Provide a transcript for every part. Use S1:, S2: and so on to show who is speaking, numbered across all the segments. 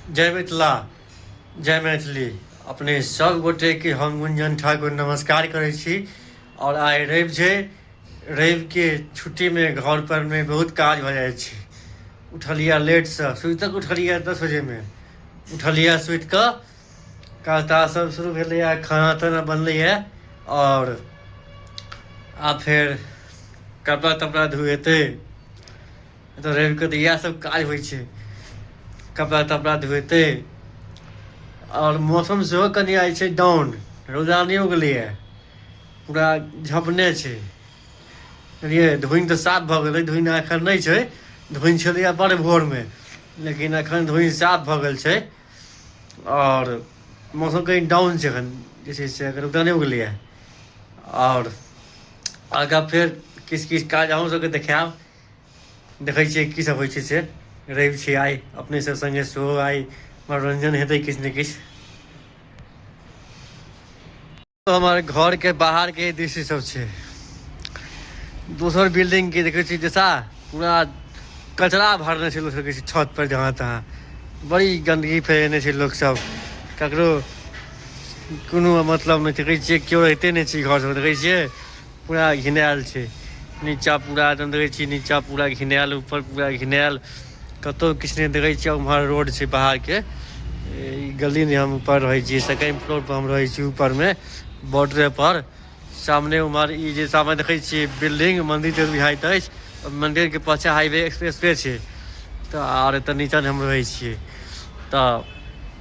S1: जय मिथिला जय मैथिली अपने सब गोटे के हम गुंजन ठाकुर नमस्कार करे छी और आइ रवि छै रवि के छुट्टी में घर पर में बहुत काज भ जाए छै उठलिया लेट से सुत तक उठलिया दस बजे में उठलिया सुत के काज ताज सब शुरू भेले है खाना ताना बनले है और आ फिर कपड़ा तपड़ा धुएते तऽ रवि कऽ तऽ इएह सब काज होइ छै कपड़ा तपड़ा धोते आओर मौसम सेहो कनि आइ छै डाउन रौदा नहि उगलैए पूरा झपने छै बुझलियै धुनि तऽ साफ भऽ गेलै धुनि एखन नहि छै धुनि छलैए बड़ भोरमे लेकिन एखन धुनि साफ भऽ गेल छै आओर मौसम कनि डाउन छै एखन जे छै से एखन रौदा नहि उगलैए आओर आगाँ फेर किछु किछु काज अहूँ सभकेँ देखायब देखै छियै की सब होइ छै से रैब छै आइ अपने सब संगे सेहो आइ मनोरंजन हेतै किछ ने किछ हमर घर के बाहर के दृश्य सब छै दोसर बिल्डिंग के देखै छी जैसा पूरा कचरा भरने छै लोक सबके छत पर जहाँ तहाँ बड़ी गन्दगी फैलेने छै लोक सब ककरो कोनो मतलब नहि देखै छियै केओ रहिते नहि छै घर सब देखै छियै पूरा घिनायल छै नीचा पूरा एकदम देखै छियै नीचा पूरा घिनायल ऊपर पूरा घिनायल कतौ किछु नहि देखै छियै उम्हर रोड छै बाहर के ई गली नहि हम ऊपर रहै छियै सेकेंड फ्लोर पर हम रहै छी ऊपर मे बॉर्डरे पर सामने उम्हर ई जे सामने देखै छियै बिल्डिंग मंदिर जे बुझाइत अछि ओहि मंदिर के पाछा हाईवे एक्सप्रेस वे छै तऽ आर एतऽ नीचा नहि हम रहै छियै तऽ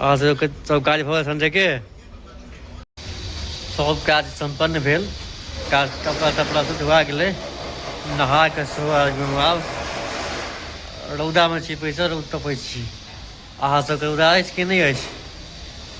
S1: अहाँ सबके सब काज भऽ गेल संझे के सब काज सम्पन्न भेल काज कपड़ा तपड़ा सब धुआ गेलै नहा कऽ सेहो आबि आब रौदामे छी बैसल रौद तपै छी अहाँ सबके रौदा अछि कि नहि अछि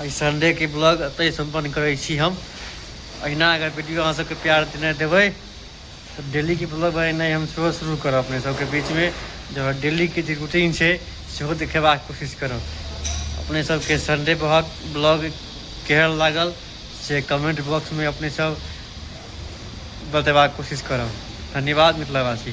S1: एहि संडेके ब्लॉग एतहि सम्पन्न करै छी हम अहिना अगर वीडियो अहाँ सबके प्यार देने देबै तऽ डेलीके ब्लॉग बनेनाइ हम सेहो शुरू करब अपने सबके बीचमे जब डेलीके जे रूटीन छै सेहो देखेबाक कोशिश करब अपने सबके संडे बहुत ब्लॉग केहन लागल से कमेंट बॉक्समे अपने सब बतेबाक कोशिश करब धन्यवाद मिथिलावासी